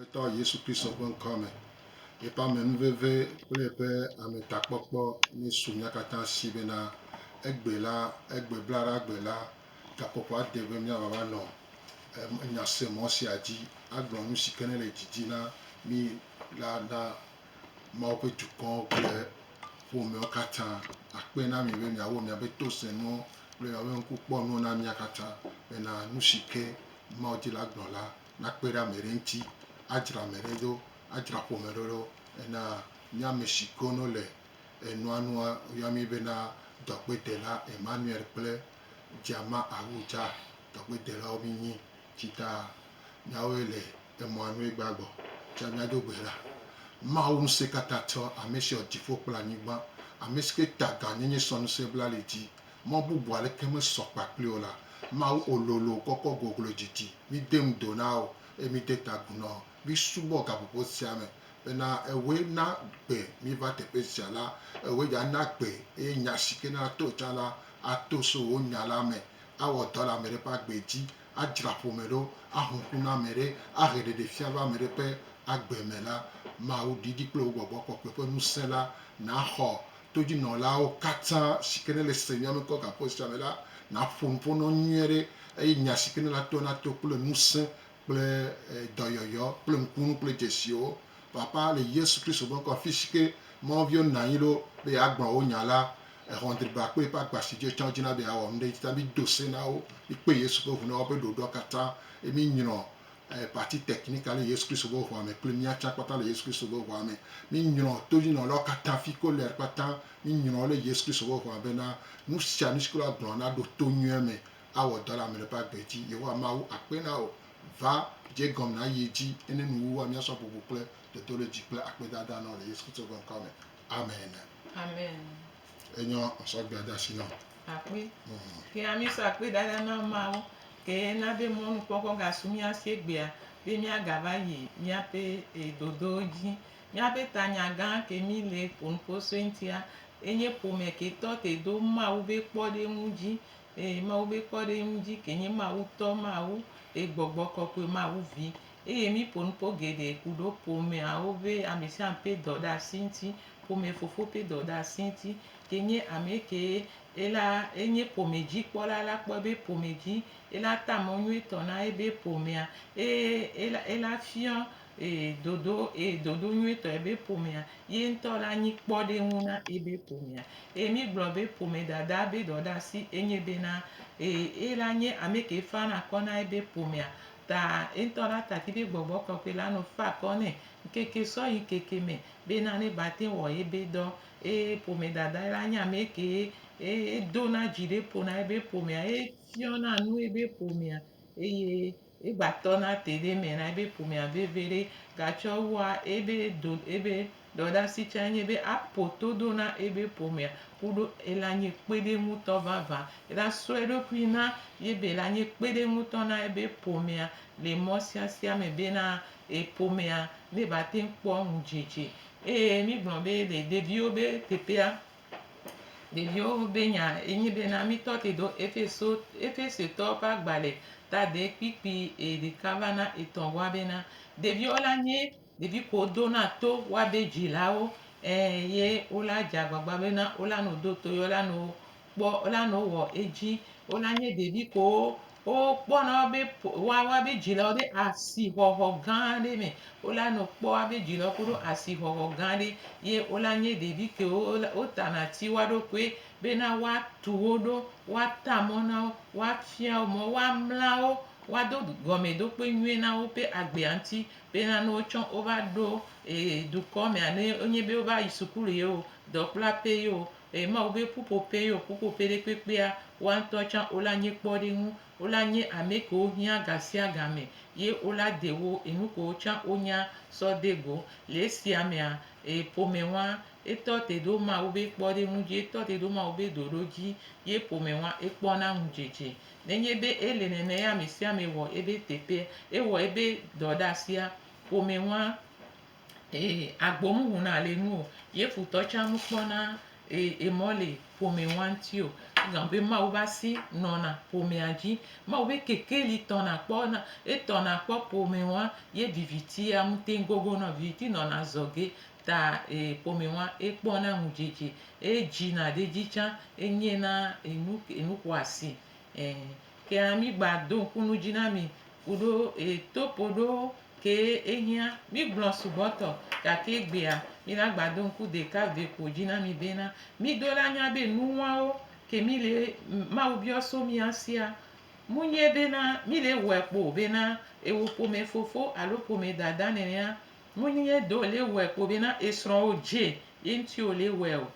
Aƒetɔ Yesu Kristo ƒe ŋkɔ me, yeƒe amenuveve kple yeƒe ametakpɔkpɔ nesu mía katã si bena egbe la, egbe blaɖagbe la, gaƒoƒoa de be míava va nɔ nyasemɔ sia dzi agblɔ nu si ke ne le didi na mí la na Mawu ƒe dukɔwo kple ƒomewo katã. Akpe na mi be miawɔ miaƒe tosenuwo kple miaƒe ŋkukpɔnuwo na mía katã bena nu si ke Mawu di la gblɔ la nakpe ɖe ame ɖe ŋuti adzra ame ɖe ɖo, adzra ƒome ɖe ɖo. Ena nye ame si ke no le enua nu yɔa mí bena dɔgbedela Emmanuel kple Djama Awuja. Dɔgbedelawo mí nyi. Tsi ta míawoe le emɔa nu egbea gbɔ tsɔ mía do goe la, Mawu Ŋusẽkatãtɔ, ame si wɔ dziƒo kple anyigba, ame si ke ta gãnyenye sɔ ŋusẽ bla li dzi, Mɔ bubu aleke mesɔ kpakpli o la, Mawu o lolo kɔkɔ goglo didi. Mide ŋu do na wo, eye mide ta agu na wo. Misubɔ gaƒoƒo sia me, bena ewɔe na gbe miva teƒe sia la, ewɔe dza na gbe, eye nya si ke nato tsã la, ato so wò nya la me, awɔ dɔ le ame ɖe ƒe agbe dzi, adzra ƒome ɖo, aho ŋku na ame ɖe, ahe ɖeɖefia va ame ɖe ƒe agbe me la, Mawu, ɖiɖi kple wò gbɔgbɔ kɔkɔe ƒe ŋusẽ la, nàxɔ todzinɔlawo katã si ke nele Senyamekɔgaƒe sia me la naƒo nu ƒo na wo nyuie ɖe eye nya si ke nela toa nato kple ŋusẽ kple dɔyɔyɔ kple ŋkunu kple dzesiwo papaa le Yesu Kristo ƒe ŋkɔ me. Afi si ke Mawu viwo nɔ anyi ɖo be yeagblɔ wo nya la, exɔ dribakpui ƒe agba si dzi wotsã wodzina be yeawɔ nu ɖe edzi ta. Mido se na wo, mikpe Yesu ƒe ŋu na woƒe ɖoɖoa katã eye minyrɔ eh, partie technique ale Yesu Kristo be ʋua me kple mía tsã kpata le Yesu Kristo be ʋua me. Míŋlɔ todzɔnɔlawo katã fi ko ler kpata, míŋlɔ wo le Yesu Kristo be ʋua bena nu sia nu si ke woagblɔ naɖo to nyuie me awɔ dɔ le ame ɖe ƒe agbe dzi. Yehowa Mawu akpe na wò. Va, dze egɔme nayi edzi ene nuwuwua míasɔ bubu kple dodoɖedzi kple akpedada na wò le Yesu Kristo ƒe ŋkɔ me. Amen. Amen. Enyɔ sɔgbɛ de asi nam. Akpe. Ke ami sɔ akpe ɖaɖa na Mawu ke na be mɔnukpɔkpɔ gasu mía si egbea be míagava yi míaƒe eh, dodowo dzi. Míaƒe tanya gã ke mí le ƒo nu ƒo sue ŋutia enye ƒome ke tɔ te do Mawu be kpɔɖeŋu dzi. Eh, Mawu be kpɔɖeŋu dzi ke nye Mawu tɔ, Mawu eh, gbɔgbɔ kɔkɔe, Mawu vi. eye míƒo nuƒo geɖe ku ɖo ƒomeawo ƒe amesiame ƒe dɔɖeasi ŋuti, ƒomefofo ƒe dɔɖeasi ŋuti, ke nye amekee ela enye ƒome dzi kpɔla la kpɔe be ƒome dzi ela ta mɔ nyuietɔ na ebe ƒomea eye ela ela fiɔ ee dodo ee dodo nyuietɔ ebe ƒomea ye ŋutɔ la nyi kpɔɖeŋu na ebe ƒomea eye mígblɔ be ƒome dada be dɔɖeasi enye bena ee ela nye amekee fana kɔ na ebe ƒomea Ta eŋtɔ la taki be gbɔgbɔ kɔkɔe la nɔ fa akɔ nɛ ŋkeke sɔ yi ŋkeke me be nane ba teŋ wɔ ebe dɔ. Eye ƒome dadae la nye amɛ kee eye edo na dzi ɖe ƒo na ebe ƒomea eye fiɔ na nu ebe ƒomea eye egba tɔ na te ɖe me na ebe ƒomea veve ɖe. Gatsɔ wua ebe do ebe. Dɔdasi tsɛ nye be aƒo todo na ebe ƒomea kuɖo ela nye kpeɖeŋutɔ vavã. Ela sɔ eɖokui na yebe ela nye kpeɖeŋutɔ na ebe ƒomea le mɔ siasia me bena eƒomea ne va teŋ kpɔ ŋudzedze. Eye mi gblɔ be le ɖeviwo be teƒea, ɖeviwo be nya enye bena mi tɔ te do Efeso, Efesetɔwo ƒe agbalẽ ta de kpikpi eɖeka va na etɔ̃ bua bena ɖeviwo la nye Ɖevi ko do na to wa be dzilawo ɛ ye wo la dze agbagba be na wo la no do to ye wo la no kpɔ wo la no wɔ edzi. Wo la nye ɖevi ko wo wo kpɔ na wo be wa wa be dzilawo ɖe asi xɔxɔ gã ɖe me. Wo la no kpɔ wa be dzilawo koɖo asi xɔxɔ gã ɖe ye wo la nye ɖevi ke wo wo ta na ti wa ɖokoe be na wa tu wo ɖo wa ta mɔ na wo wa fia wo mɔ wa mla wo wa do gɔme ɖokpe nyuie na wo ƒe agbea ŋti Ye hã ne wotsɔ wova ɖo e dukɔ mea ne wonye be wova yi sukulu ye o, dɔkplaƒe ye o, e Mawu be ƒuƒoƒe ye o, ƒuƒoƒe ɖe kpekpea, woa ŋutɔ tsã wola nye kpɔɖeŋu. Wola nye ame kewo hiã gasiagame ye wola de wo e nu kewo tsã wonya sɔ de go. Le esia mea, e ƒome wɔa etɔ te ɖo Mawu be kpɔɖeŋu dzi, etɔ te ɖo Mawu be ɖoɖo dzi ye ƒome wɔa ekpɔna ŋudzedze. Nenye be ele nenea amesiame wɔ ebe teƒea, ewɔ ebe dɔɖasia ƒome ŋua, ee, agbo muhuna le enu o, ye futɔ tsã mukpɔna, ee, emɔ le ƒome ŋua ŋuti o. Egɔme be Mawu be asi nɔna ƒomea dzi. Mawu be kekeli tɔna kpɔ na, etɔna kpɔ ƒome ŋua, ye viviti ya ŋuti gogo nɔ, viviti nɔna zɔge. ta e ƒome wa e kpɔ na nu dzedze e dzi na ɖe dzi tsa e nye na enu enu xɔ asi e ke a mi gba do ŋku nu dzi na mi kuɖo e topo ɖo ke e hiã mi gblɔ sugbɔ tɔ gake e gbea mi la gba do ŋku ɖeka ve ko dzi na mi be na mi do la nya be nu wawo ke mi le mawu biɔ so mia sia mu nye be na mi le wɔe kpo be na ewo ƒome fofo alo ƒome dada nenea Menye ye do le wɛ kpo be na esrɔn wo dje ye ŋti wo le wɛ o,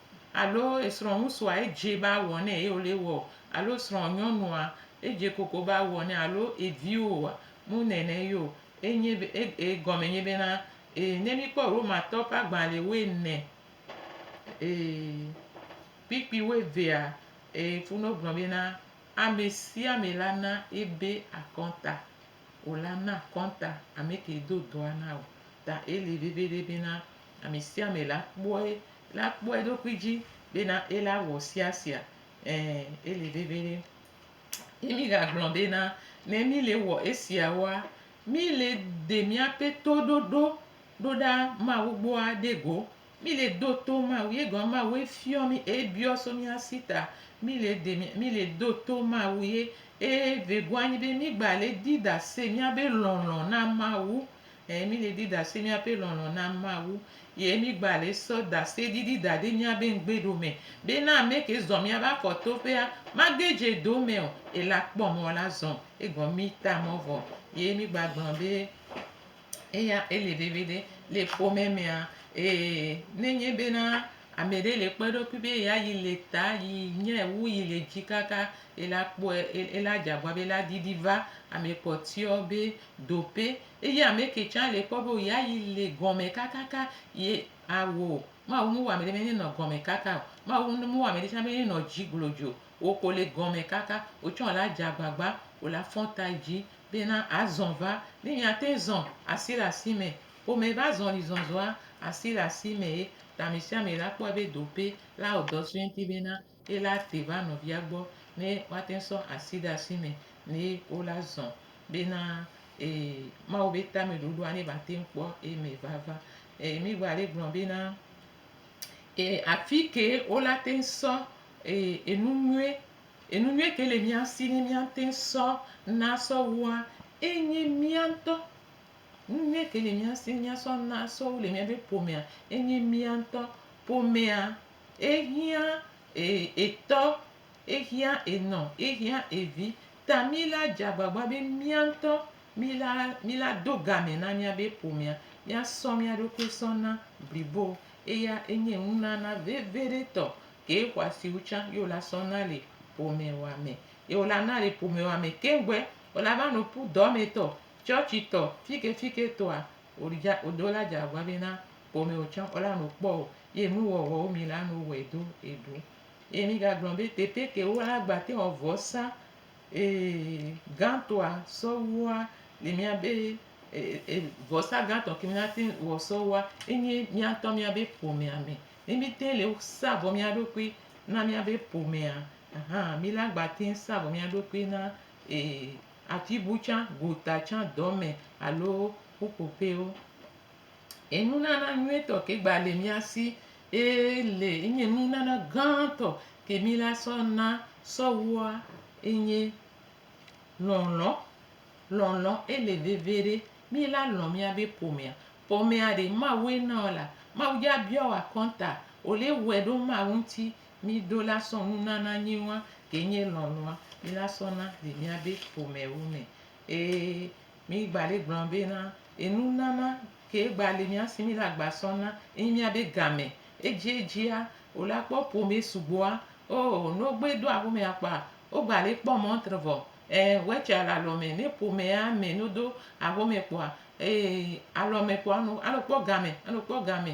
alo esrɔn ŋusua edje ba wɔ nɛ ye wo le wɛ o, alo esrɔn nyɔnua edje koko ba wɔ nɛ alo eviwo oa? Mu nɛnɛ ye o. Enye be, e, e, egɔme nye be na, e, ne mi kpɔ Romatɔwo ƒe agbalẽ woene, e, kpikpi woevea, e, funu gblɔ be na, Amesiame la na ebe akɔnta o la na kɔnta ame kee do dɔa na o ta ele veviɖe bena ame sia ame la kpɔe la kpɔ eɖokui dzi bena ela wɔ sia sia ẽ ele veviɖe ye mi gagblɔ bena ne mi le wɔ esiawoa mi le de miaƒe toɖoɖo ɖoɖa mawu gbɔa ɖe go Mí le do to Mawu, ye gɔme Mawue fiɔ mí e biɔ so mía si ta. Mí le de mía, mí le do to Mawu ye e vegoa anyi be mí gba le di dasɛ mía be lɔlɔ̃ na Mawu. E mí le di dasɛ mía be lɔlɔ̃ na Mawu ye mí gba le sɔ dasɛ ɖiɖi da ɖe mía be ŋgbe ɖo me be na ame ke zɔ mía be afɔ to ƒea ma gbe dze do me o. Ela kpɔ mɔ la zɔ egɔ mí ta mɔ vɔ ye mí gba gblɔ be. Eya ele veviɖe le ƒome mea, ee, ne enye bena ame ɖe le kpɔ eɖokui be ya yi le ta yi nye wu yi le dzi kaka ela kpɔe ela dze agbɔ be ela didi va ame kpɔtɔewo be doƒe eye ame ke tsɛ le kpɔ be ya yi le gɔme kakaka ye awɔ o. Mawu mewɔ ame ɖe be nenɔ gɔme kaka o. Mawu mewɔ ame ɖe tsɛ be nenɔ dzi glodzo o. Wò ko le gɔme kaka. Wò tsɛ wòla dze agbagba, wòla fɔ ta yi dzi Bena azɔ va, ne miate zɔ asi le asi me. Ƒome ƒe azɔlizɔzɔa, asi le asi me ye ta amesiame la kpɔe be dope la wɔ dɔ sue ŋti bena ye la te va nɔvia gbɔ ne woate sɔ asi ɖe asi me ne wo la zɔ bena ee Mawu be tameɖoɖoa ne ba te kpɔ eme vava. Ee mi gba le gblɔ bena ee afike wo la te sɔ ee enu nyuie Enu nyui ke le mía si ne míate ŋu sɔ na sɔ wua enye mía ŋutɔ. Nu nyui ke le mía si ne míasɔ na sɔ wu le míaƒe ƒomea enye mía ŋutɔ. Ƒomea, ehiã etɔ, ehiã enɔ, ehiã evi. Ta mí la dze agbagba be mía ŋutɔ mí la mí la do game na míaƒe ƒomea. Míasɔ mía ɖokui sɔ na blibo. Eya enye nunana vevi ɖe tɔ Ke xɔasiwo tsã ye wola sɔ na le ƒomewɔame. Ye wola na le ƒomewɔame keŋ gbɔe wola va nɔ ƒu dɔmetɔ, tsɔtsitɔ, fikefiketɔa wodza wola dze agbagba be na ƒomewo tsã wola nɔ kpɔ o. Ye nuwɔwɔwo mi la nɔ wɔe do eɖu. Ye mi gagblɔ be teƒe ke wola gba te wɔ vɔsa e gãtɔa sɔ wua le mía be e e vɔsa gãtɔ ke mi na te wɔ sɔ wua enye mía ŋutɔ mía be ƒomeame. Ne míte le sa vɔ mía ɖokui na míabe ƒomea hã, mí la gba te ŋu sa vɔ mía ɖokui na afi bu tsã, gota tsã, dɔme alo ƒuƒoƒewo. Enunana nyuitɔ ke gba le mía si ele enye nunana gãtɔ ke mí la sɔ na sɔ wua enye lɔlɔ. Lɔlɔ ele vevi ɖe mí la lɔ míabe ƒomea. Ƒomea ɖe Mawue na wò la, Mawu dza bia wò akɔnta o le wòe ɖo Mawu ŋuti mi do la sɔ nunana nyuiwa ke nye lɔlɔa mi la sɔ na le mia be ƒome wu me. Ee, mi gba le gblɔ be na enu nana ke gba le mia si mi la gba sɔ na enyi mia be game. Edzi edzia wò la kpɔ ƒome sugbɔa, oo, ne wogbe do aƒomea kpɔa, wogba le kpɔ mɔntre vɔ Ẽ, wetsea le alɔme ne ƒomea me no do axome kpɔa eye alɔme kpɔa no alo kpɔ game alo kpɔ game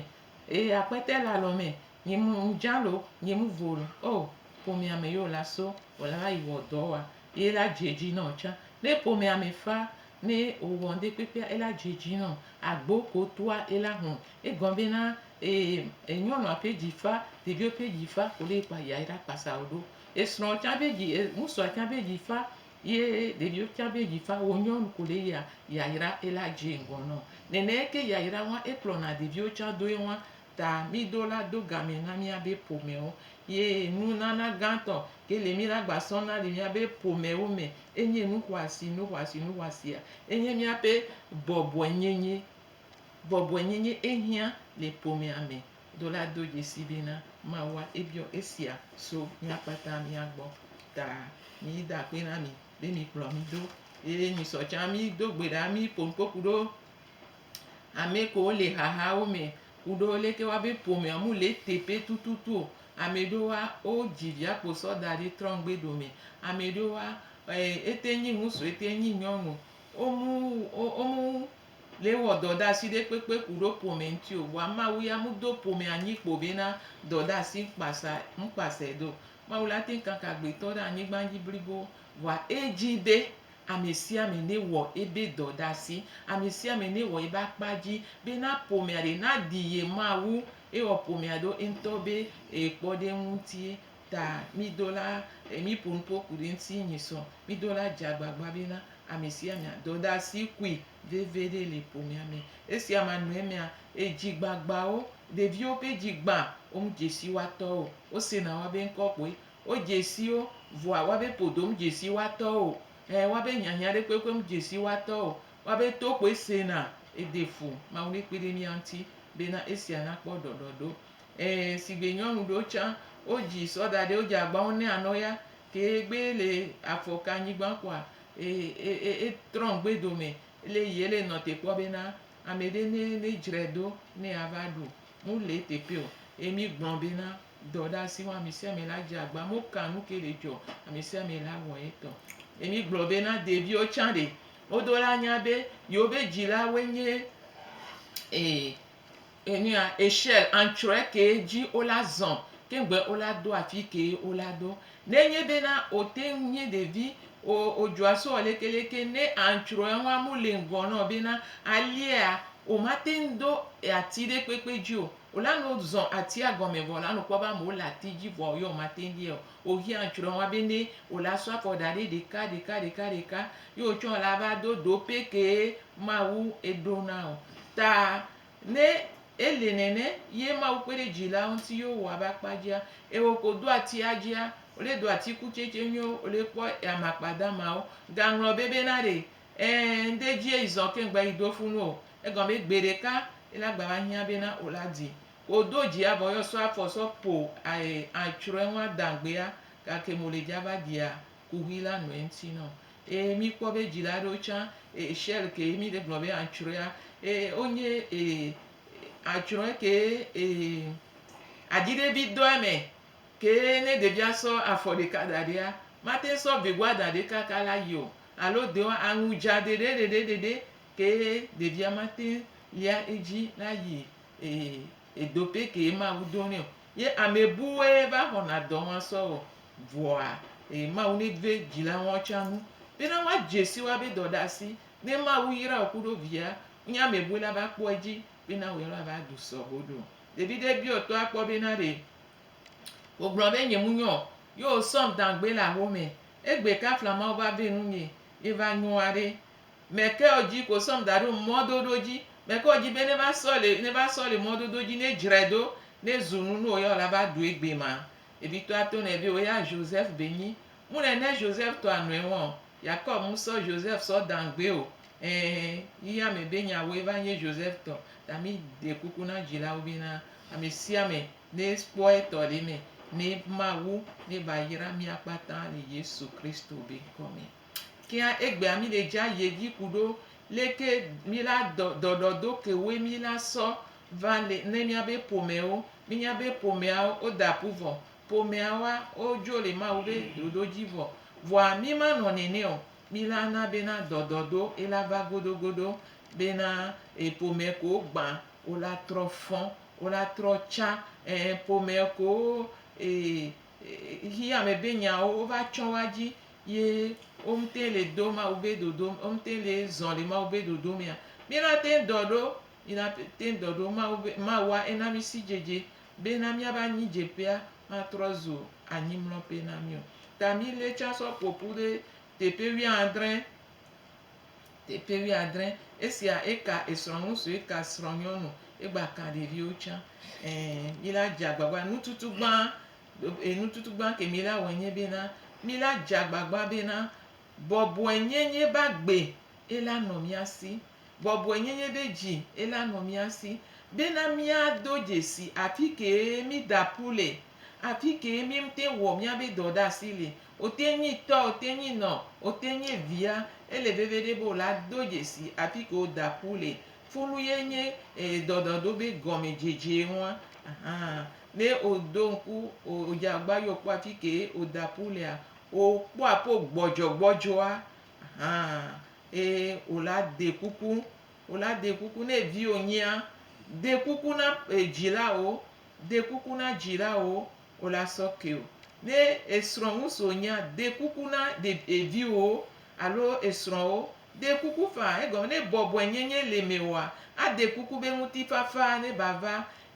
eye akpɛtɛ le alɔme nyi mu ŋdza lo nyi mu vo lo o ƒomea me yo la so o la va yi wɔ dɔ wa ye la dze dzi nɔ tsã ne ƒomea me fa ne o wɔ ŋɖe kpekpea ela dze dzi nɔ agbo ko toa ela hɔn egɔn be na e enyɔnua ƒe dzi fa ɖevio ƒe dzi fa ko ɖe kpa ya ela kpasa o ɖo. Esrɔ̃ tsã be dzi, ŋutsua tsã be dzi fa ye ɖeviwo tsã be dzi fa wo. Nyɔnu ko ɖe yia yayra ela dze ŋgɔ nɔ. Nɛnɛ ke yayra wa ekplɔna ɖeviwo tsã doe wa. Ta mi do la do game na mia be ƒomewo. Ye nunana gãtɔ ke le mi la gba sɔ na le mia be ƒomewo me enye nu xɔasi, nu xɔasi, nu xɔasia enye mia ƒe bɔbɔe nyenye. Bɔbɔe nyenye ehiã le ƒomea me. Do la do dzesi ɖi na Mawua ebiɔ esia so mía kpata mía gbɔ ta. Mi da akpe na mi be mi kplɔ mi do. Eye mi sɔ tsã mi do gbe ɖa mi ƒo nuko ku ɖo ame ko le haha wo me ku ɖo leke wa be ƒomea mu le teƒe tututu o. Ame ɖo wa o dzi via kpo sɔ da ɖe trɔ ŋgbe ɖo me. Ame ɖo wa ete nyi ŋusu ete nyi nyɔnu. Omu, omu. Lé wɔ dɔdasi ɖe kpekpe ku ɖo pomɛ ŋti o vɔa Mawu ya mu do pomɛ anyi kpo be na dɔdasi ŋkpasa ŋkpasɛ do. Mawu la teŋ kaka agbetɔ ɖe anyigban dji blibo vɔa edji be amɛsiame ne wɔ ebe dɔdasi, amɛsiame ne wɔ ebe akpa dji be na pomɛa ɖe na ɖi ye Mawu ewɔ pomɛa ɖo eŋtɔ be ekpɔ ɖe eŋu ŋtie. Ta mí do la e mí ƒo nuƒo ku ɖe eŋuti nyi sɔ. Mí do la dze agbagba be na ame sia ame adɔ ɖe asi kui veve ɖe le ƒomea me. Esia ma nɔe mea e dzi gbagbawo, ɖeviwo ƒe dzi gbã wo me dze si woa tɔwo o. Wo sena woa be ŋkɔ kpoe. Wo dze si wo vɔa woa be ƒodo me dze si woa tɔwo o. Ɛ woa be hiahiã ɖe kpekpe me dze si woa tɔwo o. Woa be to kpoe sena. E de fu. Mawu ne kpe ɖe mía ŋuti be na esia na kpɔ ɖɔɖɔɖo. Ẽ, sigbe nyɔnu ɖewo tsã, wo dzi sɔ da ɖe wo dzi agba wo nɛ anɔ ya ke egbe ele afɔ ka nyigban kɔa e e e e trɔ ŋgbe dome ele yi ele nɔ te kpɔ be na ame ɖe ne ne dzrae ɖo ne ya va ɖu nu le teƒe o. Ye mi gblɔ be na dɔ ɖe asi wa ame sia ame la dze agba mo ka nu ke le dzɔ ame sia ame la wɔ etɔ. Ye mi gblɔ be na ɖeviwo tsã ɖe wo do la nya be yewo be dzila woe nye e. Enea eshel antsrɔe kee dzi wo la zɔn keŋ be wo la do afi kee wo la do. Ne nye be na o teŋ nye ɖevi o o dzɔa sɔ leke leke ne antsrɔe ŋua mo le ŋgɔ nɔ be na a liea o ma teŋ do ati ɖe kpekpe dzi o. O la no zɔn atia gɔme vɔ la no kpɔ be ame wo le ati dzi vɔ yɔ ma teŋ liɛ o. O hia antsrɔe ŋua be ne o la sɔ afɔ da ɖe ɖeka ɖeka ɖeka ɖeka yɔ o tsɔ la va do do pɛ kee Mawu eɖo na o. Ta Ne ele nene ye Mawu kpeɖedzila ŋuti ye wowɔ ebe akpa dzia, ye woko do atia dzia, wole do atikutsetse nyuiwo, wole kpɔ ame akpa damawo. Gaŋlɔ be bena ɖe, ẽ, ŋɖe dzie yi zɔ keŋ gba yi do fu nu o. Egɔme be gbeɖeka ye la gba va hiã bena wo la di. Ko do dzia vɔ ye wosɔ afɔ sɔ po ae atsrɔe ŋu ada ŋgbea, gake mole dza va dia kuxi la nɔe ŋti nɔ eye mi kpɔ be dzi la ɖo tsã eye shell ke mi ɖe gblɔ be atsrɔea eye wo nye eye atsrɔe ke eye adzi ɖe bi dɔ eme ke ne ɖevia sɔ afɔ ɖeka da ɖea mate sɔ vegua da ɖe kaka la yio alo de wa aŋu dza ɖeɖe ɖeɖe ɖeɖe ke ɖevia mate lia edzi la yi eye Edo pɛ kee Mawu do nɛ o. Ye amɛ buwoe va xɔna dɔ ŋa sɔ wɔ. Vɔa e Mawu nɛ ve dzila ŋɔ tsa nu. Be na wa djesi wa be dɔ ɖasi. Ne Mawu yra wo kuɖo via, wo nye amɛ bue la va kpɔ edji be na woe la va ɖu sɔ ho ɖo. Ɖevi ɖe biɔ tɔ a kpɔ be na ɖe wo gblɔ be nye mu nyɔ o. Ye wo sɔm dangbe le axomɛ. Egbe kafla Mawu va ve nu nɛ. Ye va nyoa ɖe. Me ke ɔ dji ko sɔm daɖo ŋmɔ doɖo dji. Me ke ɔ dji be ne va sɔli, ne va sɔli ŋmɔ dodo dji, ne djrɛ do, ne zu nu no ya o la va ɖoe gbe ma. Evi tɔ ato nɛ be o ya Joseph be nyi. Mu nɛ ne Joseph tɔ anɔe ŋɔ o. Yakob mu sɔ Joseph sɔ dan gbe o. Ɛɛ, yi ya me be nya woe va nyi Joseph tɔ. Ta mi ɖe kuku na djila wo be na ame sia ame ne kpɔ etɔ le eme ne ma wu ne va yra mia kpata le Yesu Kristo be ŋkɔ me. Kea egbea mi ɖe dja yevi kuɖo leke mi la dɔ dɔɖɔ do kewoe mi la sɔ va le ne mia be ƒomewo. Mi nya be ƒomeawo wo da ƒu vɔ. Ƒomea woa wo djo le Mawu be ɖoɖo dji vɔ. Vɔa mi ma nɔ nene o. Mi la na bena dɔ dɔ do e la va godo godo bena e ƒome kowo gba wo la trɔ fɔ̃, wo la trɔ tsa. Ɛɛ ƒome kowo e xi ame be nyawo wova tsɔ wa dzi ye womte le do Mawu be dodo me womte le zɔ le Mawu be dodo mea, míenate ŋu dɔ ɖo míenate ŋu dɔ ɖo Mawu be Mawua ena mí sidzedze bena míaƒe anyidzeƒea matrɔ zu anyimlɔƒe na mí o. Ta mílée tsã sɔ ƒo ƒu ɖe teƒe wuiadre. Teƒe wuiadre, esia eka esrɔ̃nu suetɔ srɔ̃nyɔnu, egba ka ɖeviwo tsã. Ẽ, mí la dze agbagba. Nututu gbã, e, nututu gbã ke mí la wɔe nye bena, mí la dze agbagba bena bɔbɔenyenye be agbe ela nɔ mía si, bɔbɔenyenye ɖe dzi ela nɔ mía si, bena míado dzesi afi kee mída ƒu le, afi kee míŋte wɔ míabe dɔ ɖe asi le, Wote nyi tɔ, wote nyi nɔ, wote nyi via. Ele veviɖe be wola do dzesi afi ke wo da ku le. Fulu ye nye dɔdɔɖo be gɔmedzedze ŋua. Ahan. Ne wo do ŋku, wo dze agba yɔ kpɔ afi ke wo da ku lea, wo kpɔ aƒe gbɔdzɔ gbɔdzɔa, ahan, ye wo la de kuku. Wo la de kuku ne vi wo nyia, de kuku na dzila wo, de kuku na dzila wo, O la sɔ ke o. Ne esrɔ̃ ŋusu wònyea, de kuku na eviwòwo alo esrɔ̃wo. De kuku faa, egɔme ne bɔbɔenyenye le mewòa, ade kuku be ŋutifafa nevava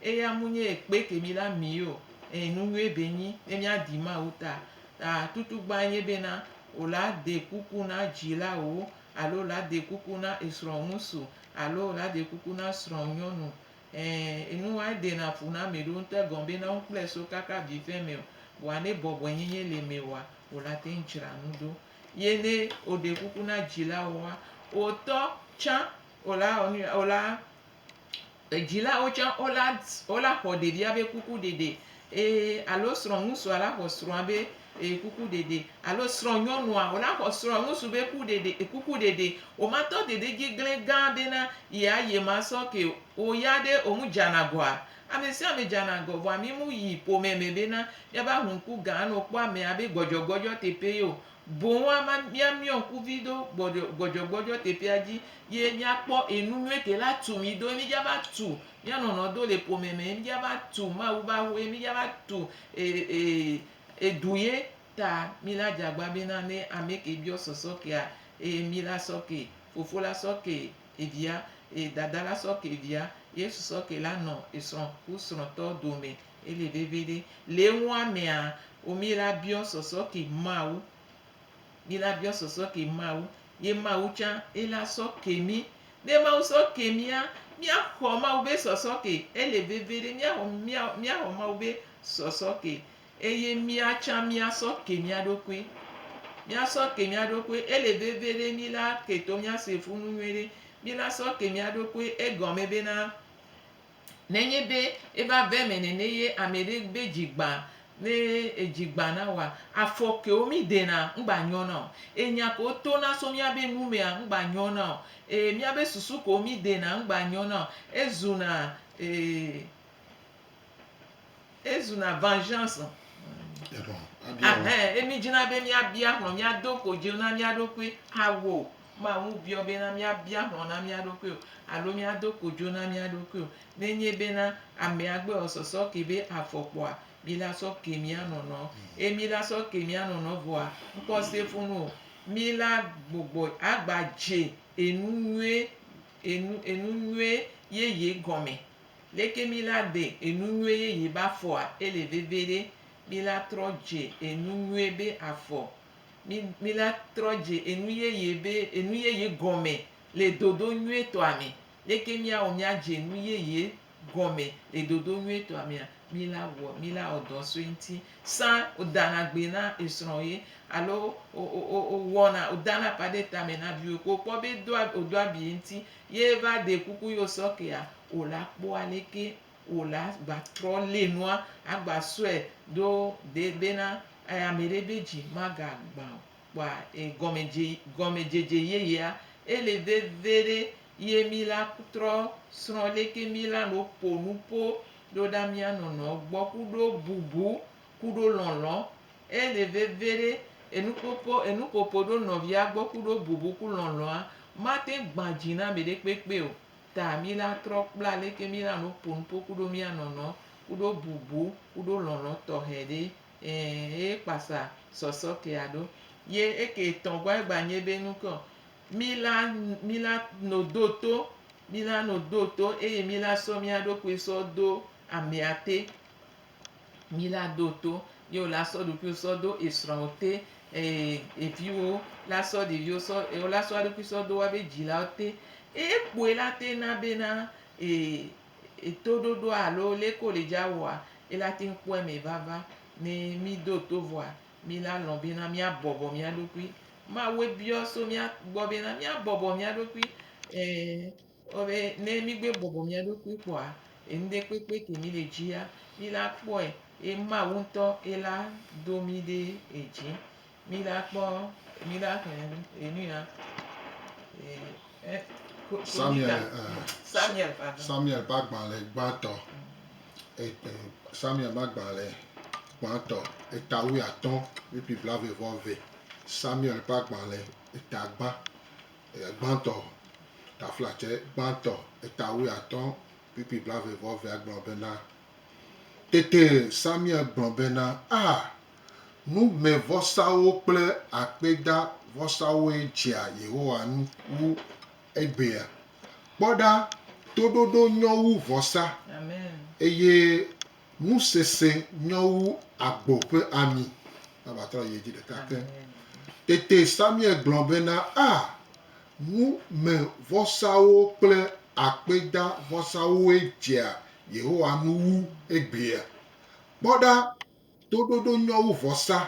eya ŋu nye ekpe ke mi la mi o. Ẽ, nu nyuie be nyi ne míadi Mawu ta. Ta tutugbãe nye bena, O la de kuku na dzilawòwo alo o la de kuku na esrɔ̃ ŋusu alo o la de kuku na srɔ̃ nyɔnu Ẽ, enu wae dena fu na mì ɖo ŋte gɔn be na wokplɔɛ so kaka vifɛ mɛɔ, vɔa ne bɔbɔɛnyɛnyɛ le mɛ oa, wola teŋ dzra nu ɖo. Ye ne woɖe kuku na dzilawoa, wotɔ tsan wola wɔ nuya, wola, dzilawo tsan wola, wola xɔ ɖevia be kukuɖeɖe Ee, alo srɔ̃ŋutsua la xɔ srɔ̃a be e kuku ɖeɖe, alo srɔ̃nyɔnua o la xɔ srɔ̃a ŋutsu be ku ɖeɖe e kuku ɖeɖe. O ma tɔ ɖeɖe dzi gblẽ gã bena yea ye ma sɔ ke o ya ɖe o ŋu dzana gɔa? Ame sia ame dzana gɔ, vɔa mi mu yi ƒome me bena mia ba ŋu ŋku gã anɔ kpɔ amea be gbɔdzɔgbɔdzɔ teƒe ye o. Boŋ ama mia miɔ ŋku vi do gbɔɖɔ gbɔdzɔgbɔdzɔ teƒea dzi ye mia kpɔ enu nyuie ke la tu mi do ye mi dza va tu Mía nɔnɔ do le ƒome me ye mí dja va tu Mawu be aƒe ye mí dja va tu edu ye ta mí la dja gba be na ne ameke biɔ sɔsɔ kea eye mí la sɔ ke fofo la sɔ ke evia eye dada la sɔ ke via Yesu sɔ ke la nɔ esrɔ ku srɔtɔ dome ele veviɖe le eŋua mea wo mí la biɔ sɔsɔ ke Mawu. Mí la biɔ sɔsɔ ke Mawu, ye Mawu tsã ye la sɔ ke mí. Ne Mawu sɔ ke mía, mía xɔ Mawu be sɔsɔ ke. Ele veve ɖe mía xɔ mía mía xɔ Mawu be sɔsɔ ke. Eye mía tsã mía sɔ ke mía ɖokui. Mía sɔ ke mía ɖokui. Ele veve ɖe mí la ke to mía se funu nyuiɖe. Mí la sɔ ke mía ɖokui egɔme be na. Nenye be eƒe ave me nene ye ame ɖe be dzi gbã ne edzi gbã na woa, afɔkewo mí ɖena ŋgba nyɔ na o. Enya kewo to na so mía be nu mea ŋgba nyɔ na o. Ee, mía be susu kewo mí ɖena ŋgba nyɔ na o. Ezuna ee. Ezuna vengeance o. Eɖɔ, abia wo. Ahɛn, ye mi dzina be mia bia hlɔn, mia do ko dzi na mia ɖokui awo o. Ma ŋu biɔ be na mia bia hlɔn na mia ɖokui o, alo mia do ko dzi na mia ɖokui o. Ne nye be na amea gbe wɔ sɔsɔ ke be afɔ kpɔa, mi la sɔ ke mia nɔnɔ. Ye mi la sɔ ke mia nɔnɔ vɔa, ŋkɔ se fun o. Mi la gbɔgbɔ agba dze enu nyuie, enu, enu nyuie yeye gɔme. Leke mi la de enu nyuie yeye be afɔa ele veve ɖe? Mi la trɔ dze enu nyuie be afɔ. Mi, mi la trɔ dze enu yeye be enu yeye gɔme le dodo nyuietɔa me. Leke miawɔ miadze enu yeye gɔme le dodo nyuietɔa mea? Mi la wɔ, mi la wɔ dɔ sue ŋuti. Sã wo dana gbe na esrɔ̃ ye alo wo, wo, wo, wo wɔna, wo dana ƒa ɖe tame na viwo ko wokpɔ be edoa, wòdoa abi ye ŋuti. Ye va ɖe kuku yo sɔkea wo la kpɔ aleke wo la gba trɔ le nua agba sɔe ɖo de bena ameɖe be dzi maga gba o. Kpɔa e gɔme dze gɔme dzedze yeyea ele veve ɖe ye mi la trɔ srɔ leke mi la no ƒo nuƒo ɖo ɖa mia nɔnɔ gbɔ kuɖo bubu kuɖo lɔlɔ ele veviɖe enukpokpɔ enuƒoƒo ɖo nɔvia gbɔ kuɖo bubu ku lɔlɔa mate gbã dzi na mɛɖe kpekpe o ta mi la trɔ kpla leke mi la no ponupo kuɖo mia nɔnɔ kuɖo bubu kuɖo lɔlɔ tɔxɛ ɖe ɛɛ eye kpasa sɔsɔ ke aɖo ye eke tɔ gbɔ egba nye be nu ke o mi la mi la no do to mi la no do to eye mi la sɔ mia ɖokui sɔ do amɛa te. Mi la do to, ye wo la sɔ ɖokuiwo sɔ do esrɔ̃wo te, eye eviwo la sɔ ɖeviwo sɔ, eye wo la sɔ eɖokui sɔ do woabe dzilawo te. Eye ekpɔe la te na bena etoɖoɖoa alo leke wo le dzi awɔa, ye la te kpɔ eme vava. Ne mi do to vɔa, mi la lɔ̃ bena mi abɔbɔ mia ɖokui. Mawue biɔ so mia gbɔ bena mi abɔbɔ mia ɖokui. Kpɔ be ne mígbe bɔbɔ mía ɖokui kpɔa, enuɖe kpekpe ke mí le dzia, mí la kpɔe, ye Mawu ŋutɔ ye la do mí ɖe edzi. Mí la kpɔ, mí la xlẽ enu ya. Samuel, Samuel, Samuel ƒe agbalẽ gbãtɔ, Samuel ƒe agbalẽ gbãtɔ, eta wuiatɔ̃, ʋiƒi blaeve vɔ eve, Samuel ƒe agbalẽ, eta gbã. Eya gbãtɔ, taflatse gbãtɔ, eta wuiatɔ̃, pp blaeve-vɔ-evea gblɔ bena, Tete Samuel gblɔ bena, A! Numevɔsawo kple akpedavɔsawoe dzea Yehowa ŋu wu egbea. Kpɔ ɖa, toɖoɖo nyɔ wu vɔsa, eye Nu sese nyɔ wu agbo ƒe ami. Eva trɔ yi edzi ɖeka ke. Tete Samuel gblɔ bena, A! Numevɔsawo kple akpedavɔsawoe dzea Yehowa nu wu eglia. Kpɔ ɖa, toɖoɖo nyɔ wu vɔsa,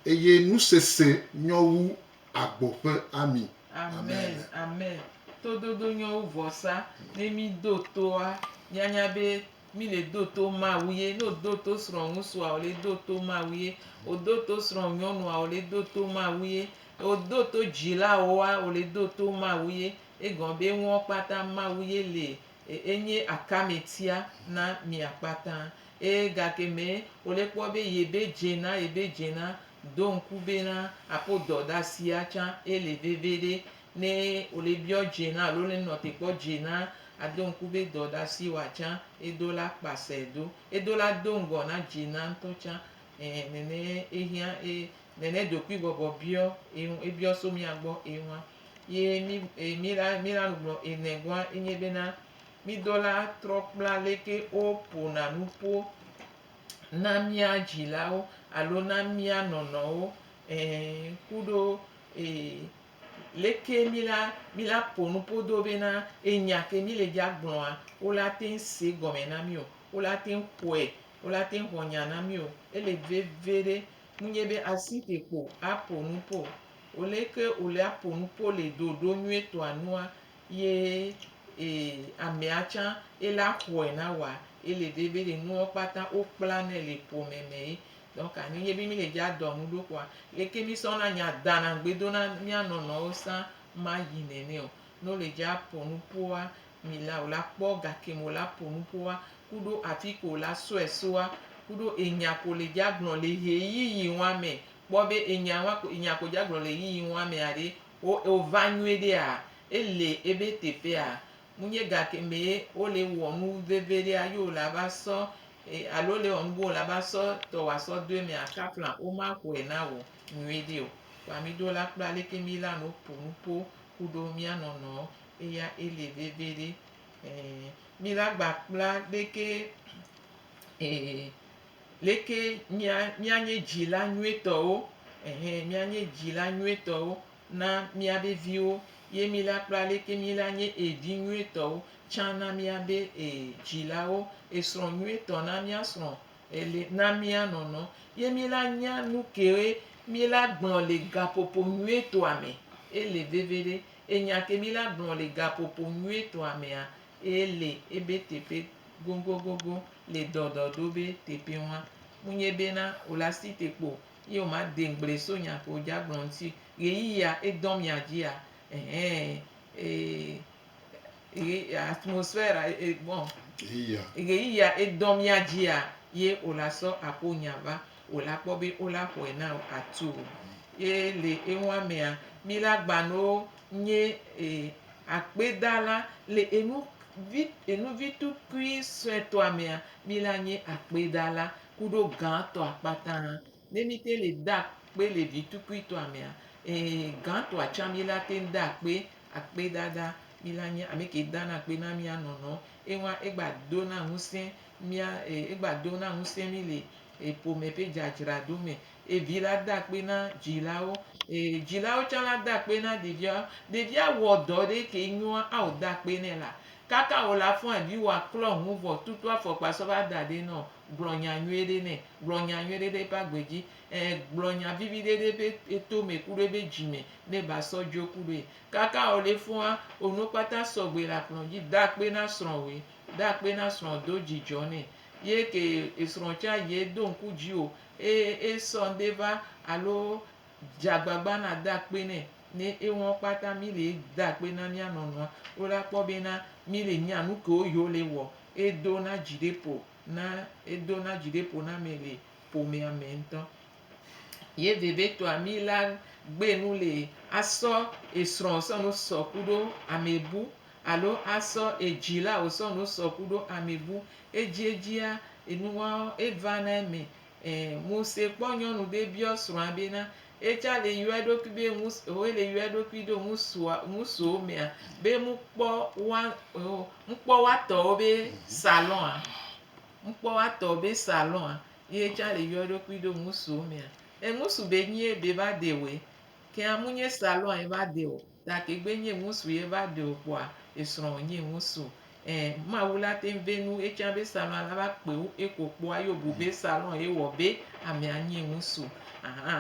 eye nu sese nyɔ wu agbo ƒe ami. Amen. Amen. Toɖoɖo nyɔ wu vɔsa. Ne míɖo toa, míanya be Mi le do to Mawu ye. Ne òdo to srɔ̃ŋutsua, ò le do to Mawu ye. Òdo to srɔ̃nyɔnua, ò le do to Mawu ye. Òdo to dzilawoa, ò le do to Mawu ye. Egɔme be nuwo kpata Mawu ye le ye. Enye akametia na mia kpata. Eye gake me wò le kpɔ be yebe dze na, yebe dze na, do ŋku bena aƒo dɔdasia tsã ele veviɖe. Ne wòle biɔ dze na alo ne nɔ te kpɔ dze na, ado ŋku be dɔ ɖe asi wa tsã ye do la kpa sɛ do. Ye do la do ŋgɔ na dze na ŋtɔ tsã. Ẽ, nɛnɛ ye hiã ye nɛnɛ ɖokui bɔbɔ biɔ ye ŋu, ye biɔ so mía gbɔ ye ŋua. Ye mí, e, mí la, mí la nugblɔ enɛ goa ye nye bena, mí do la trɔ kpla leke wo po na nuƒo na mía dzilawo alo na mía nɔnɔwo, ẽ, kuɖo, e, Leke mi la, mi la po nu ƒo do bena enya ke mi le bia gblɔa, wo la te ŋ se gɔme na mi o, wo la te ŋ xɔe, wo la te ŋ xɔ nya na mi o. Ele veve ɖe ŋunye be asi te ko a po nu ƒo. O leke o le a po nu ƒo le ɖoɖo nyuietɔa nua ye e amea tsã e la xɔe na woa, ele veve ɖe nuɔ kpata wo kpla nɛ le ƒome me ye Donc anyi nye bi mi le dja dɔ nu ɖo kpoa leke mi sɔ na nya dana gbe do na mia nɔ nɔ wo sa ma yi nɛnɛ o. Ne wo le dja po nu poa mi la o la kpɔ ga ke me wo la po nu poa kuɖo afi ke wo la sɔɛ soa kuɖo enya ke wo le dja gblɔ le ɣe yi yi ŋua mɛ kpɔ be enya ŋua ko enya ke wo dja gblɔ le ɣe yi ŋua mɛa ɖe wo wo va nyuie ɖe a e le ebe teƒe a. Mu nye ga ke me ye wo le wɔ nu veve ɖea ye wo la va sɔ Eye alo le wɔ nu bo la ba sɔ tɔ wa sɔ do emi aka flan o ma xɔe na wɔ nyui ɖe o. Kpa mi do la kpla leke mi la no po nu po ku ɖo mia nɔnɔ eya ele veve ɖe. Ee, mi la gba kpla leke, ee, leke mia, mia nye dzi la nyuie tɔ wo. Ehe, mia nye dzi la nyuie tɔ wo. na míabe viwo ye mí la kple aleke mí la nye e vi nyuietɔwo tsã na míabe e dzilawo e srɔ̃ nyuietɔ na mía srɔ̃ e le na mía nɔnɔ ye mí la nya nu kewoe mí la gblɔ le gaƒoƒo nyuietɔa me e le veviɖe e nya ke mí la gblɔ le gaƒoƒo nyuietɔa mea e le ebe teƒe gogogogo le dɔdɔɖobe teƒe ŋua. Munye bena o la si te kpo Ye womade ŋgble so nya ke wodza gblɔ ŋuti ɣeyiɣia edɔ mia dzia ɛhɛɛ ɣe atmosphère bon ɣeyiɣia edɔ mia dzia ye wola sɔ aƒo nya va wola kpɔ be wola xɔe na wo atu o. Ye le enua mea mi la gbanoo nye akpedala le enu vi enuvitukui suetɔa mea mi la nye akpedala Kuɖo gãtɔa kpata. Ne míte le de akpe le vitukuitɔa mea, ee, gãtɔa tsã míla te ŋu de akpe. Akpedada, míla nye ame ke dana akpe na mía nɔnɔ. Eŋua, egba dona ŋusẽ mía, e, egba dona ŋusẽ mí le e, ƒome ƒe dzadzraɖo me. Eye vi la da akpe na dzilawo. Eye dzilawo tsã la da akpe na ɖeviawo. Ɖevia wɔ dɔ ɖe ke nyoa, ao da akpe nɛ la, kaka wòle afɔa dzi wòa klɔ nu vɔ tutu afɔkpa sɔ va da ɖɛ nɔ, gblɔ nya nyuie ɖe nɛ. Gblɔ nya nyuie ɖe ɖe eƒe agbe dzi. Ẽ, gblɔ nya vivi ɖe ɖe eƒe etome kuɖo eƒe dzi me ne eva sɔ dzo kuɖoe. Kaka wòle fɔa, wò nuwo kpata sɔ gbɔe le akplɔ dzi. Da akpe na srɔ̃wòe. Da akpe na srɔ̃wò, do dzidzɔ nɛ. Ye ke esrɔ̃ tsã yi edo ŋku dziwò Eye esɔ ŋde va alo dze agbagba nade akpe nɛ ne eŋɔ kpata mi le de akpe na mia nɔnɔa. Wo la kpɔ be na mi le nya nukewo yi wo le wɔ. Edo na dzi ɖe ƒo na edo na dzi ɖe ƒo na me le ƒomea me ŋtɔ. Ye vevitɔa mi la gbe nu le asɔ esrɔ sɔ nu sɔ kuɖo amebu Alo asɔ edzi la wòsɔ nu sɔ ku ɖo ami bu. Edziedzia, enuwaɔ, eva na eme. Ẽ, Mose kpɔ nyɔnu be biɔ srɔ̃a be na etsa le yɔ eɖokui be ŋus eo ele yɔ eɖokui ɖo ŋusua ŋusuwo mea be mu kpɔ wa eo mu kpɔ wa tɔwo be salon a? Mu kpɔ wa tɔwo be salon a? Yi etsa le yɔ eɖokui ɖo ŋusuwo mea? Eŋusu be nyie be va de wɛ. Ke a mu nye salon a eva de o. Gake gbe nye ŋusu ye va ɖe o kpoa esrɔ nye ŋusu. E, Mawu la teŋ ve nu etsã be salon la va kpe ŋu eko kpoa ye obu be salon ye wɔ be amea nye ŋusu. Aha,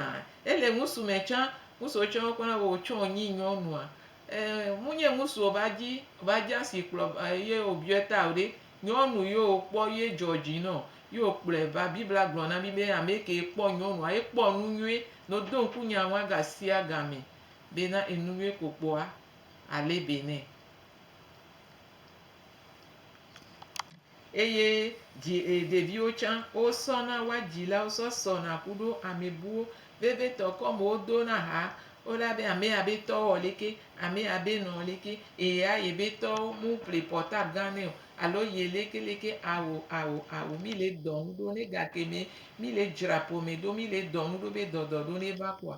ele ŋusu me tsã, ŋusu wo tsã wo kpɔna be otsɔ nyi nyɔnua. E, mu nye ŋusu o va dzi, va dzi asi kplɔ ye obiɔe ta o ɖe, nyɔnu ye o kpɔ ye dzɔ dzi nɔ, ye o kplɔe va. Biblia gblɔ na mi be ameke kpɔ nyɔnua, ekpɔ nu nyuie, no do ŋku nya ŋua ga sia ga me. bena enuvie kpokpoa alé be nɛ. Eye ɖeviwo tsã wosɔna woa dzilawo sɔ sɔna kuɖo amebuwo vevitɔ kɔme wodona ha wola be amea be tɔ wɔ leke amea be nɔ leke eya yebe tɔ mu ple portable gã nɛ o alo ye leke leke awo awo awo mi le dɔnu ɖo ne gake me mi le dzra ƒome ɖo mi le dɔnu ɖo be dɔdɔ ɖo ne va kpɔa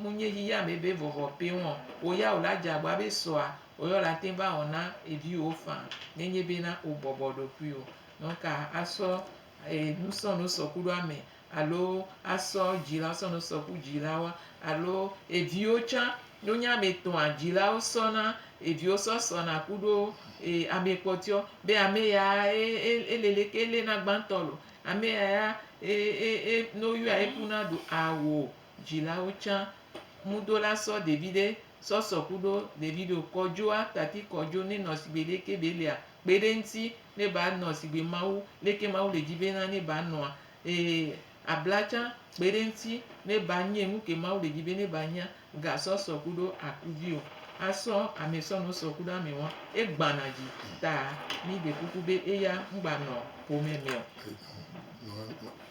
Mu nye yiya me be vɔvɔ peŋ ɔ, wò ya wò la dze agba be sɔa wò ya wò la teŋ va wɔ na eviwòwo faa nenye be na wò bɔbɔ ɖokuiwò. Nɔ ka asɔ enu sɔ no sɔ kuɖo ame alo asɔ dzilawo sɔ no sɔ ku dzilawoa? Alo eviwo tsã no nye ame tɔa dzilawo sɔ na eviwo sɔ sɔ na kuɖo ame kpɔtɔewo be ame ya e le le ke le na gbãtɔ lo, ame ya ya e e e no yɔa eku na ɖo ao. dzilawo tsã. Ŋudo la sɔ ɖevi ɖe sɔsɔ kuɖo ɖevi ɖo kɔ djo a tati kɔ djo ne nɔ sigbe leke be lia kpe ɖe ŋti ne ba nɔ sigbe Mawu leke Mawu le dji be na ne ba nɔa. E abla tsã kpe ɖe ŋti ne ba nye nuke Mawu le dji be ne ba nyea. Ga sɔ sɔ kuɖo akuvi o. A sɔ ame sɔ no sɔ kuɖo ame wa e gbana dji ta mi ɖe kuku be eya ŋgba nɔ ƒome me o.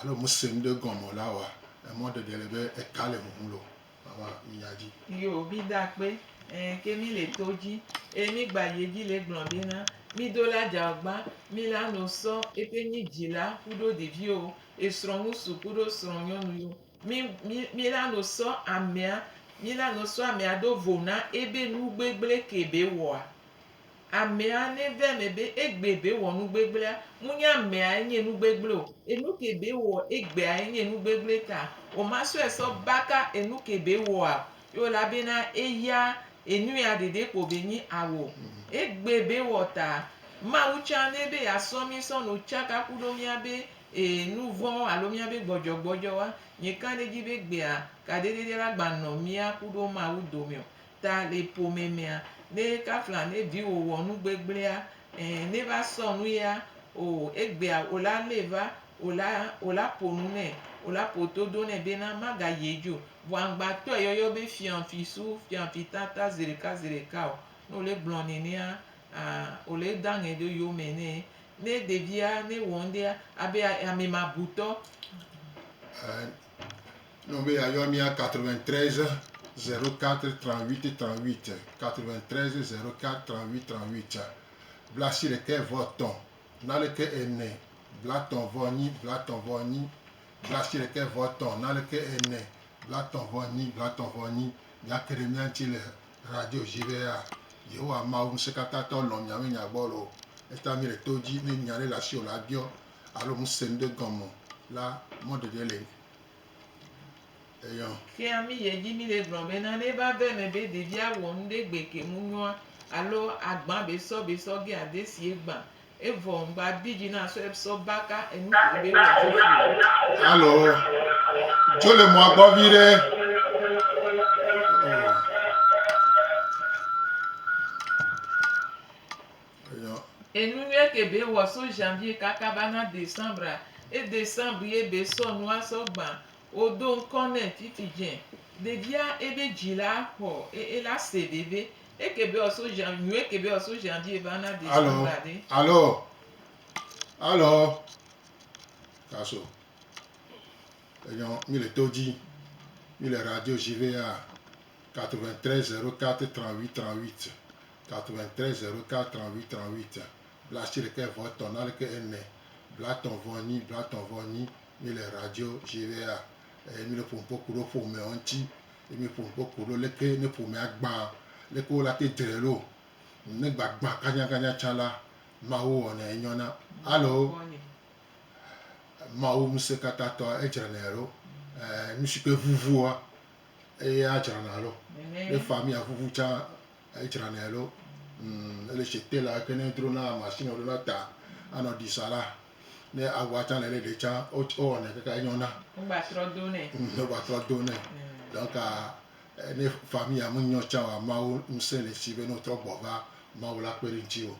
Alo muse nuɖe gɔme o la wɔa emɔ ɖeɖe le be eka le huhum lo mama minya dji. Yo mi da kpe eh ke mi le to dji eh mi gba yi edji le gblɔ be na mi do la dja gba mi la no sɔ ete nyi djila kuɖo ɖeviwo esrɔ ŋusu kuɖo srɔ nyɔnu yo mi mi mi la no sɔ amea mi la no sɔ amea do vo na ebe nu gbegble ke be wɔa Amea ne ve ame be egbe be wɔ nu gbegblea, mu nye amea enye nu gbegble o. Enu ke be wɔ egbea enye nu gbegble ta wo ma sɔe sɔ baka enu ke be wɔa ye wo la be na eya enu ya ɖeɖe kpo be nyi awo. Egbe be wɔ ta Mawu tsa ne be ya sɔ mi sɔ no tsaka ku ɖo mia be e nu vɔ alo mia be gbɔdzɔ gbɔdzɔ wa. Nye ka ɖe dzi be gbea ka ɖe ɖeɖe la gba nɔ mia ku ɖo Mawu domeo. Ta le ƒome mea, ne kafla ne viwò wɔ nu gbegblẽa, ẽ, ne va sɔ nu ya, oo, egbea wò la lée va, wò la, wò la ƒo nu nɛ, wò la ƒo todo nɛ bena magayi edzi o. Vɔ aŋgbatɔe yɔyɔ be fianfi su, fianfi tata zeɖeka zeɖeka o. Ne wòle gblɔ nenea, a, wòle da ŋɛ ɖe yome nɛ. Ne ɖevia, ne wɔ ŋɖea, abe amemabutɔ. Ne wòbe yeayɔ mía 93 04 38 38, 93 04 38 38, blasi ɖekɛ vɔ tɔ̃, naneke ene, blatɔ̃ vɔ nyi, blatɔ̃ vɔ nyi, blasi ɖekɛ vɔ tɔ̃, naneke ene, blatɔ̃ vɔ nyi, blatɔ̃ vɔ nyi, míake ɖe mía ŋuti le radio dzi bea, Yehowa Mawu Ŋusẽkatãtɔ lɔ̃ miawo nya gbɔ loo. Eta míele to dzi ne nya ɖe le asiwò la biɔ, Alo ŋusẽ ɖe gɔme la mɔɖeɖe le eyɔ. Fia mí ye dzi míle gblɔ be na ne va va eme be ɖevia wɔ nu ɖe gbe ke ŋu nyɔa alo agbã be sɔ be sɔ ge ade si egbã evɔ ŋgba di dzi na sɔ sɔ ba ka enu ke be wɔ fifi o. Alo dzo le mɔa gbɔ vi ɖe. Oh. Enunyuie ke be wɔ so janvier kaka va na decembre e decembre ye be sɔ nu a sɔ gban wo do ŋkɔ nɛ fifi je ɖevia ebe dzi la xɔ e ela se veve eke be wɔ so jan nyuie ke be wɔ so janvier va na decembre a ɖe. Alo alo alo kaso enyɔ mi le to dzi mi le radio jve a 93 04 38 38. 93 04 38 38 blaasiɖeke vɔ etɔ̃ naneke ene blatɔ̃ vɔ enyi blatɔ̃ vɔ enyi mi le radio GVA eye mi le ƒo nuƒo ku ɖe ƒomeawo ŋuti eye mi ƒo nuƒo ku ɖe leke ne ƒomea gbã leke wo la te dre ɖo ne gbagbã kanyakanya tsã la Mawu wɔnɛ enyɔna alo Mawu ŋusẽkatãtɔ edzrenɛ ɖo eh, nu si ke vuvua eye adzrana ɖo ne fa mi avuvu tsã Edzranɛ ɖo umm ele chez tailor yike ne dro na machine wo ɖo na ta anɔ ɖi sa la ne awua tsã le ɖe ɖe tsã wo wɔnɛ kaka enyɔ na. Wo gba trɔ do nɛ. Umm wo gba trɔ do nɛ. Mm. Donc eh, ne famille me nyɔ tsã wa Mawu ŋusẽ le si be ne wotrɔ gbɔ va Mawu la kpe ɖe ŋuti o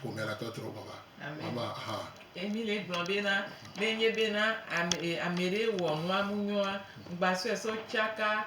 ƒomea la tɔ trɔ gbɔ va. Amen. Mama hã. Emile gblɔ bena, ne enye bena ame e, ame ɖee wɔ nua ŋu nyɔa, ŋgbasɔe sɔ tsaka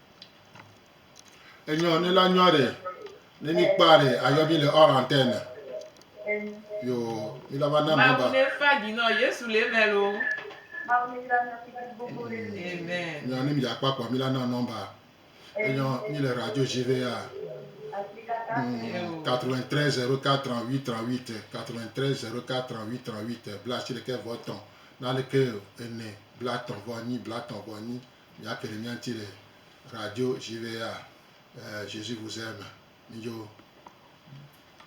Enyɔ ne la nyɔ ɖe ne mi kpa ɖe ayɔ mi le ɔrantɛne. Yo mi la va na mi ba. Ne fa dzi nɔ Yesu le mɛ lo. Amen. Nyɔ ne mi dza kpakpɔ mi la na nɔmba. Enyɔ mi le radio jive ya. 93 04 38 38 93 04 38 38 bla si ɖeke vɔ tɔn. Naleke ene bla tɔn vɔ nyi bla tɔn vɔ nyi. Míake ɖe mía ŋuti le radio je vais à Jésus vous aime midzo.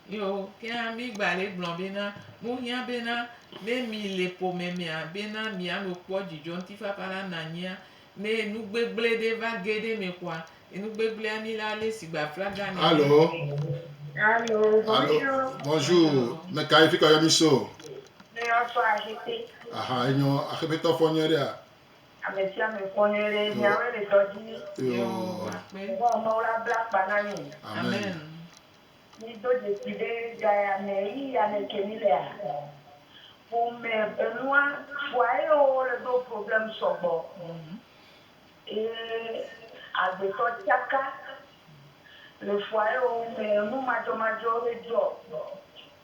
Yo, ke hã mi gba le gblɔ bena, mo hiã bena, ne mi le ƒome mea, bena mia no kpɔ dzidzɔ ŋtifafa la na nyia, ne enu gbegble ɖe va ge ɖe me kɔa, enu gbegblea mi la le si gba flaga ne. Alo. Alo, bonjour. Bonjour. Me ka ye fi kɔ yɔ mi so? Me yɔ so ahete. Aha, enyo, ahete tɔ fɔ nyɔ ɖe a. Ame sia ame kpɔ nyuie ɖe miawoe le dɔ dzi ni. Yehowa Mawu la bla akpa na mi. Mi do dzesi be ga ya me ɣi ya me ke mi lea? Ƒome enua fua eye wo le ɖo problème sɔgbɔ eye agbetɔ tsaka le fua eye wo me enu madzɔmadzɔ ɖe dzɔ.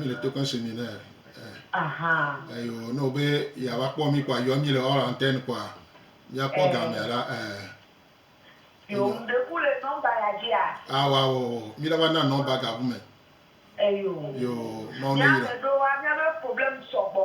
Míle to kan semi ne eyo ne wobe yeava kpɔ mí kpɔa yɔ mí le hors antenne kpɔa míakpɔ gamea la. Yo ŋɖe ku le nɔmba ya dzia? Awɔ awɔ awɔ míla va na nɔmba gabu me. Eyo. Yo Mawu ne yi ɖe. Míameɖowoa míabe problème sɔgbɔ.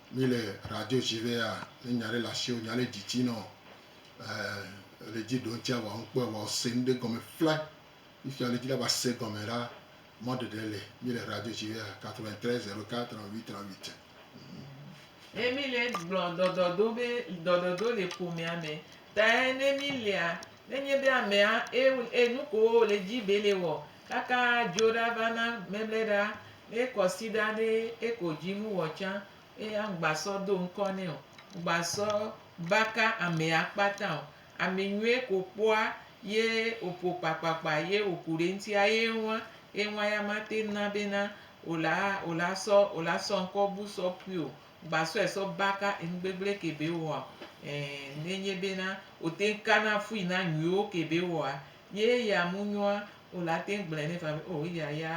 Mi le radio dzi be ya ne nya ɖe le asi wò nya ɖe dzi tsi nɔ eh le dzi ɖo ŋtsi awa ŋu kpɔe wa ose nu ɖe gɔme fla yi fia le dzi la va se gɔme la mɔ ɖeɖe le mi le radio dzi be ya 93 04 38 38. Emile gblɔ ɖɔɖɔɖo be ɖɔɖɔɖo le ƒomea me tae ne mi lia nenye be amea e e nukowo wòle dzi be le wɔ kaka dzo ɖa va na mɛmlɛɖa ne kɔsiɖa ɖe eko dzi nu wɔ tsã eya ŋgba sɔ do ŋkɔ nɛ o ŋgba sɔ baka amea kpata o ame nyuie ko kpɔa ye oƒo kpakpakpa ye oku ɖe ŋti ya ye ŋua ye ŋua ya mate ŋu na be na ola ola sɔ ola sɔ ŋkɔ bu sɔ ƒui o Gba sɔe sɔ baka enu gbegble ke be wɔa e ne nye be na wo teŋ ka na fui na nyuiwo ke be wɔa ye ya mu nyɔa o la teŋ gblɔe ne fa be o eya ya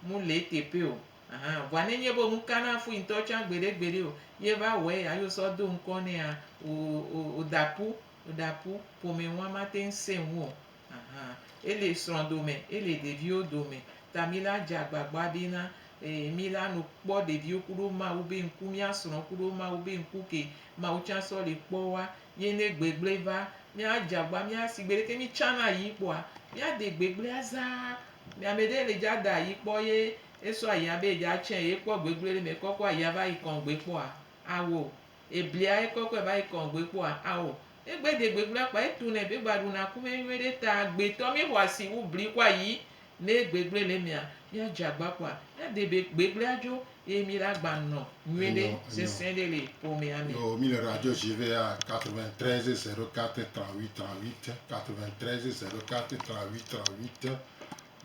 mu le eteƒe o ahan vɔa ne nye be mu ka na fui ŋtɔ tsã gbeɖe gbeɖe o ye va wɔe ya yo sɔ do ŋkɔ nɛa o o o da ƒu o da ƒu ƒome ŋua ma teŋ se ŋu o. Aha, ele srɔ̃ dome, ele ɖeviwo dome, ta mi la dze agbagba be na ee mi la no kpɔ ɖeviwo kuɖo Mawu be ŋku, mia srɔ̃ kuɖo Mawu be ŋku ke Mawu tsã sɔ li kpɔ wa. Ye ne gbegble va, mia dze agba, mia si gbeɖe ke mi tsã na ayi kpɔa, mia de gbegblea zaa. Mi ame ɖe le dza da ayi kpɔ ye esɔ ayia be edza tsɛ ye kpɔ gbegble ɖe me kɔkɔ ayia va yi kɔŋgbe kpɔa, awɔ o. Eblia ekɔkɔe va yi kɔn gbe kpɔa? Ao. Egbe de gbe kplakpla, etu nɛ be gba ɖu na ku mɛ nyuie ɖe ta gbe tɔ mi xɔ asi wu bli kɔ ayi. Ne egbe gble le mia, mia dze agba kpɔa, mia de be gbe gble adzo eye mi la gba nɔ nyuie ɖe sesẽ ɖe le ƒomea me. Yo mi le radio dzi be ya 93 0 4 38 38 93 0 4 38 38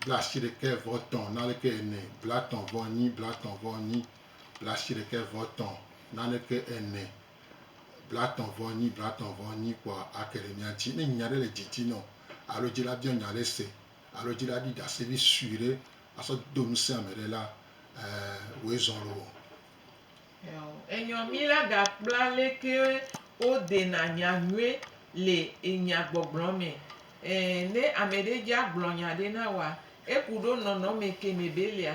bla ashi ɖekɛ vɔ tɔn na ɖekɛ ene bla tɔn vɔ nyi bla tɔn vɔ nyi. blaasiɖekɛ vɔ tɔ̃ naneke ene, blatɔ̃ vɔ nyi, blatɔ̃ vɔ nyi kpɔa ake ɖe mía ŋuti. Ne nya ɖe le didi nɔ alo edzi la biɔ nya ɖe se alo edzi la ɖi ɖase vi sue ɖe asɔ do ŋusẽ ame ɖe la, ɛɛ, woe zɔ̃ loo. Enyɔ mí la gakpla leke wodena nya nyuie le enya gbɔgblɔ mɛ. Ɛɛ, ne amɛɖe dja gblɔ nya ɖe na woa, eku ɖo nɔnɔmɛ ke mɛ be lea,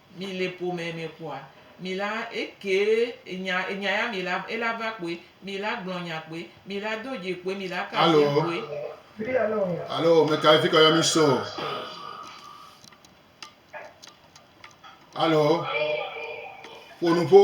Mi le ƒo mɛ mɛ kpoa, mi la ekee enya enya ya mi la ela va kpoe, mi la gblɔ nya kpoe, mi la do dzi kpoe, mi la ka asi kpoe. Alo mɛ ka efi kɔ yɔ mi so? Alo ƒo nuƒo.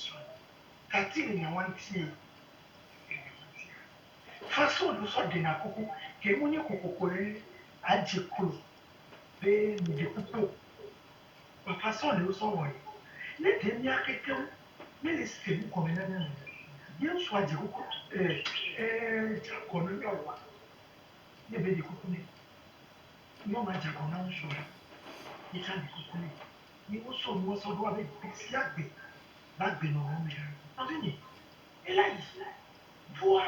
Srɔ̃ tati le nya wantiɛ le nya wantia. Fa so ɖo sɔ ɖena kuku ke mu nyi kokoko lɛ a je klo be mi ɖe kuku o. Wafa sɔ ɖe wo sɔ wɔ yi. Lé ɖe mia kekeŋ mí le se nu gɔme na mia nɔnɔɛ ye ŋsu a je kuku le e je agɔ na mia ɔa? Ne be ɖe kuku nɛ. Nyɔnua je agɔ na ŋsua yi tsa ɖe kuku nɛ. Ye wosɔ nua sɔ ɖoa be gbe sia gbe le agbenɔnɔ me hã. Nɔvinye, ela yi ʋua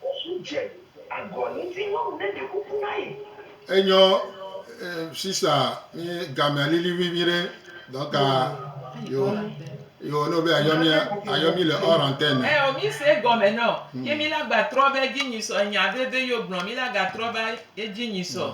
kuku dze agɔ ŋutinyɔnu ne ɖe kuku na ye. Enyɔ sista mi gamea lili ʋui nyuiɖe donc yo yo no be ayɔ mi ayɔ mi le hors antenne. Ɛ o mi se egɔme nɔ ye mi la gba trɔ va edzi nyui sɔ enya veve yo gblɔ mi la ga trɔ va edzi nyui sɔ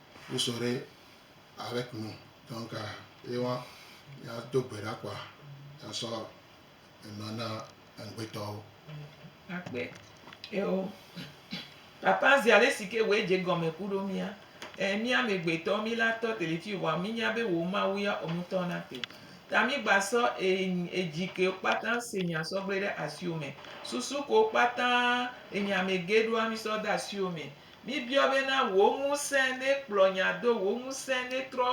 Wosɔ ɖe Alec nu. Donc ye wa ya do gbe ɖa kpoa ya sɔ enua na eŋgbetɔwo. Akpe eo. Papa zi ale si ke wòe dze gɔme ku ɖo mía. Ẽ, mí amegbetɔwo mí la tɔ teli fiyo vɔa mí nya be wò Mawu ya ɔ ŋutɔ na te. Ta mí gba sɔ eŋ edzi kewo kpata se nya sɔ gble ɖe asiwo me. Susu kewo kpata enyame ge ɖoa mí sɔ de asiwo me. Míbiɔ bena wò ŋusẽ nekplɔ nya do, wò ŋusẽ netrɔ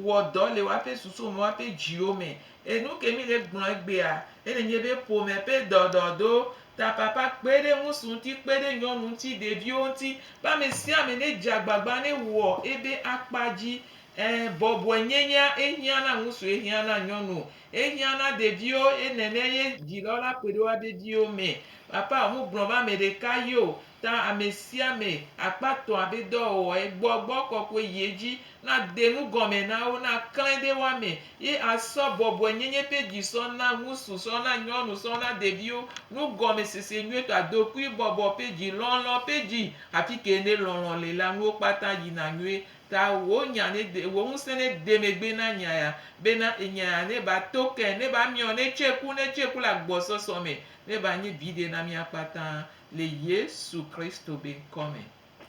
wɔ dɔ le woaƒe susuwo me, woaƒe dziwo me. E nuke míle gblɔ egbea, ele nye be ƒome ƒe dɔdɔdo, tapapa, kpe ɖe ŋusu ŋuti, kpe ɖe nyɔnu ŋuti, ɖeviwo ŋuti, be ame sia ame nedze agbagba newɔ ebe akpa dzi. Ẽ, bɔbɔe nyenyea ehiã na ŋusu, ehiã na nyɔnu, ehiã na ɖeviwo, eye nenea ye dzilɔwo la ƒoe ɖe woabe viwo me. Papa o, mu gblɔ be ame ɖeka ye o, Ta amesiame akpatɔ abe dɔwɔwɔ ye gbɔ gbɔ kɔkɔe yi edzi na denu gɔme na wo na klẽ ɖe wo ame ye asɔ bɔbɔe nyenye ƒe dzi sɔ na ŋusu sɔ na nyɔnu sɔ na ɖeviwo nu gɔme sese nyuietɔ adokui bɔbɔ ƒe dzi lɔlɔ ƒe dzi hafi ke ne lɔlɔ le la nuwo kpata yi na nyuie ta wo nya ne de wo ŋusẽ ne de megbe na nya ya be na enya ya ne ba to ke ne ba miɔ ne tse ku ne tse ku le agbɔsɔsɔ me ne ba nye viɖe na mia kpata Le Yesu Kristo be ŋkɔ me,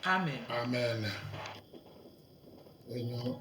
amen. Amen. Enyo.